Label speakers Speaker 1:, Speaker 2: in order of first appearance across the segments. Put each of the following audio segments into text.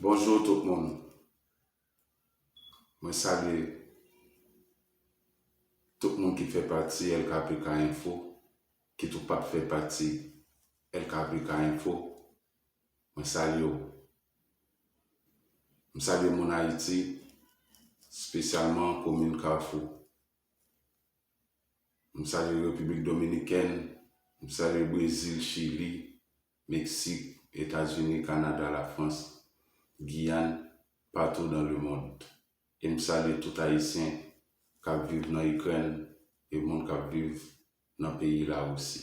Speaker 1: Bonjour tout moun mwen salye tout moun ki fè pati LKPK info ki tou pat fè pati LKPK info mwen salye w m salye moun ayiti spesyalman komin kafou m salye repiblik dominikèn m salye brezil chili Meksik, Etazini, Kanada, Lafrans, Giyàn, patou dan le mond. E m salye tout Ayisyen k ap viv nan Ikrèn e moun k ap viv nan peyi Larisi.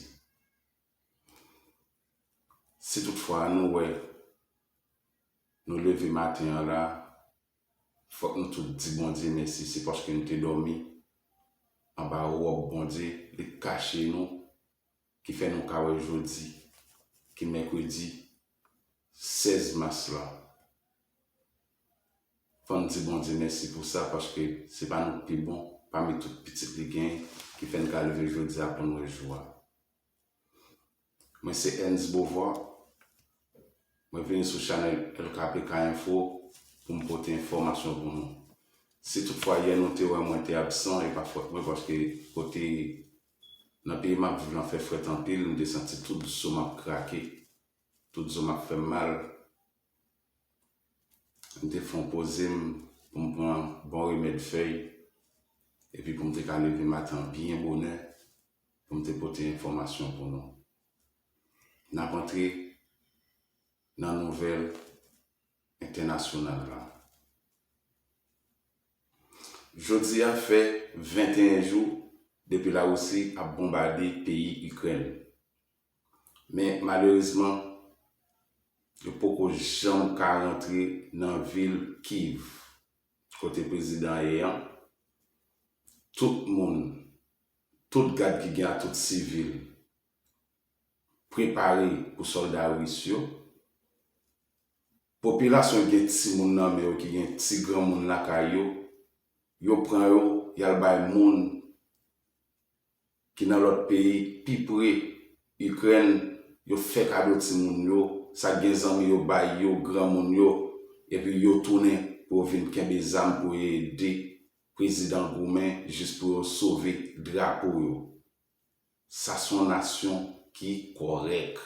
Speaker 1: Si tout fwa nou wè nou leve maten an la, fòk nou tout di Bondye mèsi, se paske nou te dòmi anba wòb Bondye, li kache nou ki fè nou ka wè jodi ki mèkredi 16 mas la. Fò n di Bondye mèsi pou sa paske se pa nou k pi bon pami tout pitit li gen ki fè n ka leve jodi a pou n wè jou a. Mwen se Ernst Beauvoir, mwen vini sou chanèl LKPK Info pou m pote enfòmasyon pou nou. Si tout fwa yè nou te wè mwen te absan e pa fòt mwen paske kote Nan peyi map viv lan fè frèt anpil m te santi tout zom ap krake tout zom ap fèm mal m te fon pozem poum pran bon remèd fèy epi poum te ka leve matan byen bonè poum te pote enfòmasyon pou nou nap antre nan nouvèl entènasyonal lan. Jodi a fè 21 jou depi Larisi ap bonbade peyi Ikrèn. Men malerezman, yo poko janm ka rantre nan vil Kyiv, kote prezidan ye an. Tout moun, tout gad ki gen a, tout sivil, prepare pou sòlda ris yo. Popilasyon ki gen timoun nan men yo, ki gen ti granmoun lakay yo, yo pran yo, y al bay moun ki nan lòt peyi k pi pre Ikrèn, yo fè kado timoun yo, sa k gen zanmi yo bay yo, granmoun yo, epi yo tounen pou yo vin kenbe zam pou yo ede prezidan goumen jis pou yo sove drapo yo. Sa son nasyon ki kòrèk.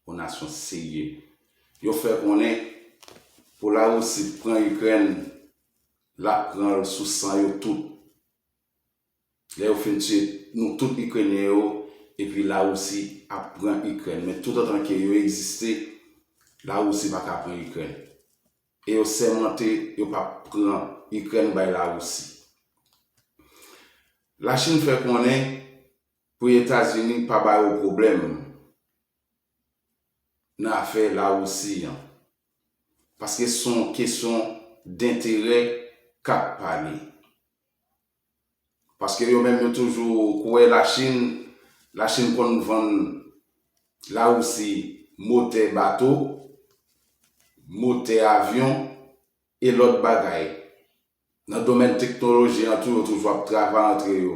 Speaker 1: Yon nasyon serye. Yo fè konnen pou la Russie t pran Ukraine lap pranl sou san yo tout. Lè yo fin tiye nou tout Ukrainien yo epi la Russie ap pran Ukraine men tout antan ke yo egziste la Russie paka pran Ukraine. E yo sèmante yo pa p pran Ikrèn bay Larisi. Lachin fè konnen pou Etazini pa ba yo pwoblèm nan afè Larisi an, paske se yon kesyon denterè k ap pale. Paske yo menm yo toujou kwè la chine la chine konn vann la roussi motè bato motè avyon e lòt bagay nan domèn teknoloji an tou yo toujou ap travay antre yo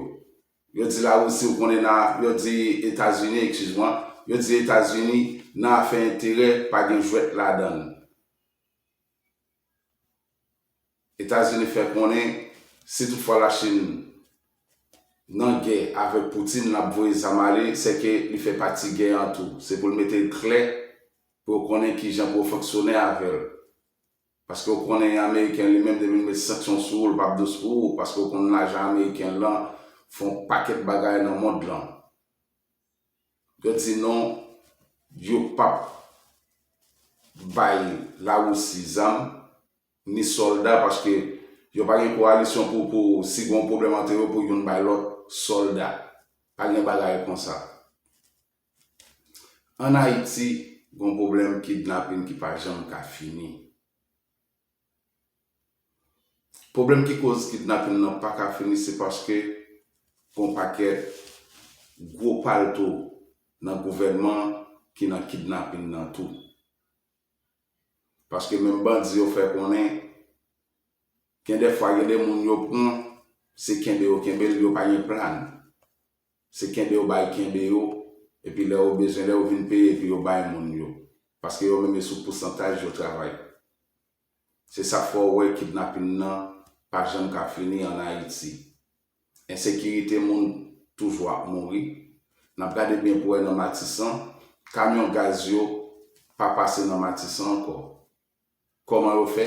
Speaker 1: yo di la roussi ou konnen nan yo di etazini ekskiz mwen yo di etazini nan afè enterè pa gen jwèt ladann. Etazini fè konnen si tout fwa Lachin nan gè avèk Putin lap voye zam ale sèke li fè pati gè an tou. Se pou l mete l klè pou yo konnen kijan pou yo fonksyone avè l. Paske ou konnen ameriken li menm depi l met sanksyon sou ou l pap dous pou ou paske ou konn lajan ameriken lan fon pakèt bagay nan mond lan. Yo di non yo pap bay Larisi zam ni solda paske yo pa gen koalisyon pou pou si gon pwoblèm antre yo pou youn bay lòt solda. Pa gen bagay konsa. An Ayiti gon pwoblèm kidnapin ki pa janm ka fini. Pwoblèm ki koz kidnapin nan pa ka fini se paske gon pakèt gwo palto nan gouvènman ki nan kidnapin nan tou. Paske menm bandi yo fè konnen gen dè fwa gen de moun yo pran se kenbe yo kenbe l yo pa gen plan. Se kenbe yo bay kenbe yo, epi lè yo bezwen lè yo vin peye epi yo bay moun yo. Paske yo menm yo sou pousantaj yo travay. Se sak fè w wè kidnapin nan pa janm ka fini an Ayiti. Ensekirite moun toujou ap mouri. Nap gade byen pou wè nan Matisan, kamyon gaz yo pa pase nan Matisan ankò. Koman yo fè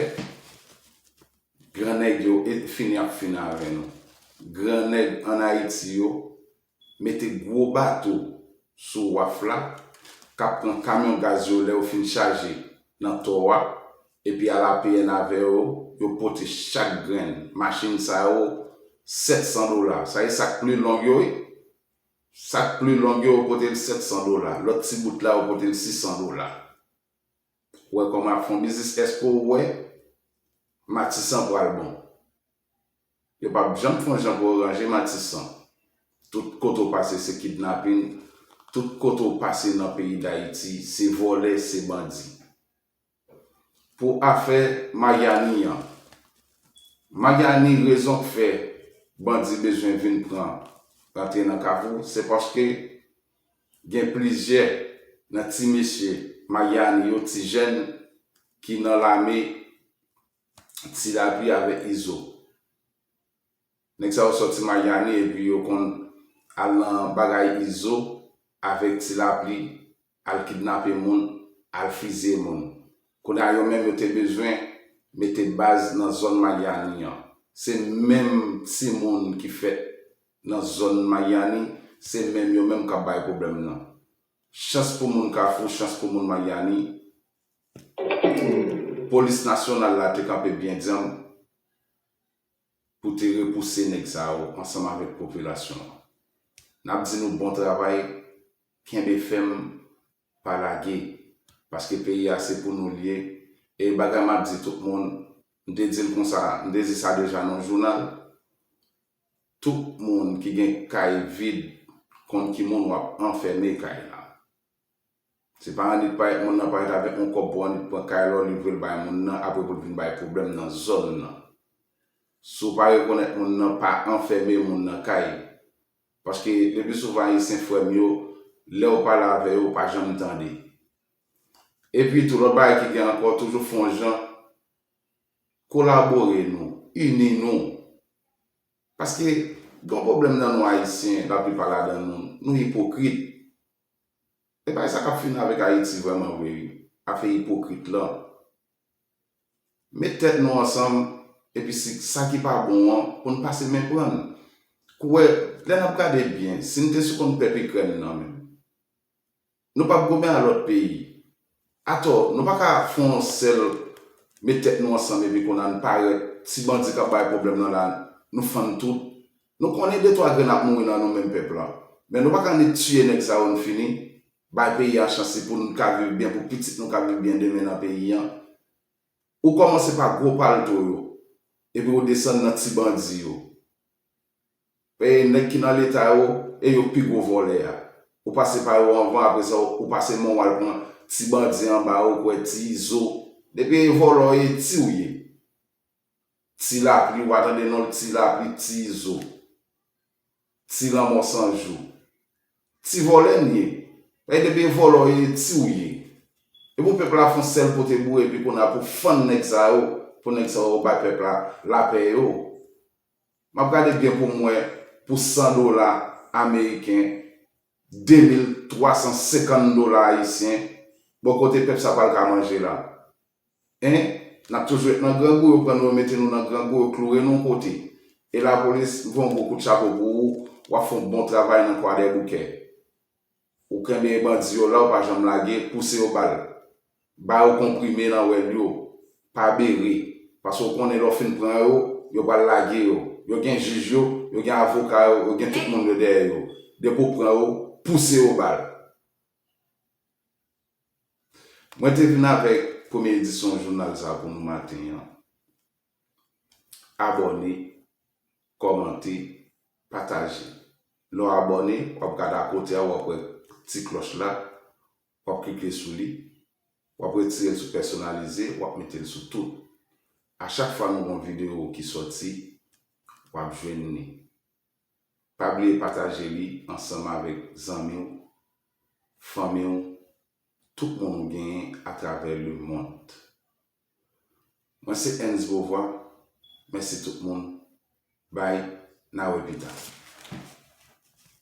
Speaker 1: Gran nèg yo fin yap fin avè nou Gran nèg an Haiti yo mete gwo bato sou waf la kap pran kamyon gaz yo lèw fin chaje nan tò a epi al apn avè yo yo pote chak grenn machine sa yo 700 dola sa se sak pli long yo wi sak pli long yo yo potel 700 dola lòt ti bout la yo potel 600 dola. Wè koman ap fon biznis eske ou wè matisan pral bon yo pap janm fon jan pou yo ranje matisan tout kote ou pase se kidnapin tout kote ou pase nan peyi dayiti se vòlè se bandi pou afè mayani yan mayani rezon k fè bandi bezwen vin pran rantre nan kafou se paske Gen plizyè nan ti mesye Mayiani yo, ti jèn ki nan lame Ti Lapli avèk Izo. Nèg sa yo sòti Mayiani epi yo konn al nan bagay Izo avèk Ti Lapli al kidnape moun, al fizye moun. Kounye a yo menm yo te bezwen mete baz nan zòn Mayiani an. Se menm timoun ki fèt Nan zòn Mayiani, se menm yo menm k ap bay pwoblèm nan. Chans pou moun Kafou, chans pou moun Mayiani, polis nasyonal la te kanpe byen dyanm pou te repouse nèg sa yo ansanm avèk popilasyon an. N ap di nou bon travay, kenbe fèm, pa lage, paske peyi a se pou nou l ye. E bagay m ap di tout moun, m te di l konsa, m te di sa deja nan yon jounal, Tout moun ki gen kay vid konn ki moun wap anfème kay la. Se pa annik parèt moun nan parèt avèk yon kòb pou annik pran kay la w livre l bay moun nan apre pou l vin bay pwoblèm nan zòn nan. Si w pa rekonèt moun nan pa anfème moun nan kay. Paske lepi souvan ayisyen frè m yo lè w pale avè yo ou pa janm tande. Epi tou lòt bagay ki gen ankò toujou fon jan Kolabore nou, ini nou. Paske gen yon pwoblèm nan nou Ayisyen, laplipa ladan nou, nou ipokrit. E bay sa k ap fini avèk Ayiti vrèman vre wi, afè ipokrit lan. Met tèt nou ansanm, epi si sa ki pa bon an, pou n pase men pran l. Kouwè, lè n ap gade byen, si n te sou kont pèp Ikrèn nan menm? Nou pap goumen a lòt peyi. Atò, nou pa ka fè yon sèl met tèt nou ansanm epi kounye a n parèt ti bandi k ap bay pwoblèm nan la nou fann tout. Nou konnen de twa grenn ap mouri nan nou menm pèp la. Men nou pa ka annik tiye nèg sa yo n fini. Bay peyi a chans li pou n ka viv byen pou pitit nou ka viv byen demen nan peyi an. Ou kòmanse pa gwo palto yo epi ou desann nan ti bandi yo. E nèg ki nan leta yo e yo pi gwo vòlè a. Ou pase pa yo anvan apre sa ou pase men w al pran ti bandi anba a ou kwè ti izo. Depi e vòlò ou ye ti ou ye. Ti lapli ou pa tande non l ti lapli ti izo. Ti lanmò san jou. Ti vòlè n ye. Paske depi e vòlò ou ye e ti ou ye. E pou pèp la fon sèl pote bouye epi kounye a pou fann nèg sa yo pou nèg sa yo bay pèp la lapè yo. Map gade byen poum wè pou 100 dola ameriken 2350 dola ayisyen bon kote pèp sa pral ka manje la hein nap toujou et nan grangou yo pran nou yo mete nou nan grangou yo kloure nou kote e lapolis m voyon gwo kout chapo pou ou wap fon bon travay nan kwadèboukè. Ou knbyen bandi yo la ou pa janm lage pouse yo bal ba yo konprime nan wèl yo pa bere paske ou konnen lè w fin pran yo yo pral lage yo yo gen jij yo yo gen avoka yo yo gen tout moun yo dèyè yo depi ou pran yo pouse yo bal. Mwen te vin avèk premye edisyon jounal sa pou nou maten an. Abòne, kòmante, pataje. Lè w abòne, w ap gade akote a, w ap wè ti klòch la, w ap klike sou li, w ap retire l sou pèsonalize, w ap mete l sou tout. A chak fwa nou gen yon videyo ki sòti, w ap jwenn li. Pa bliye pataje li ansanm avèk zanmi w, fanmi w, tout moun ou genyen atravè lemond. Mwen se Ernst Beauvoir mèsi tout moun bye na wè pita.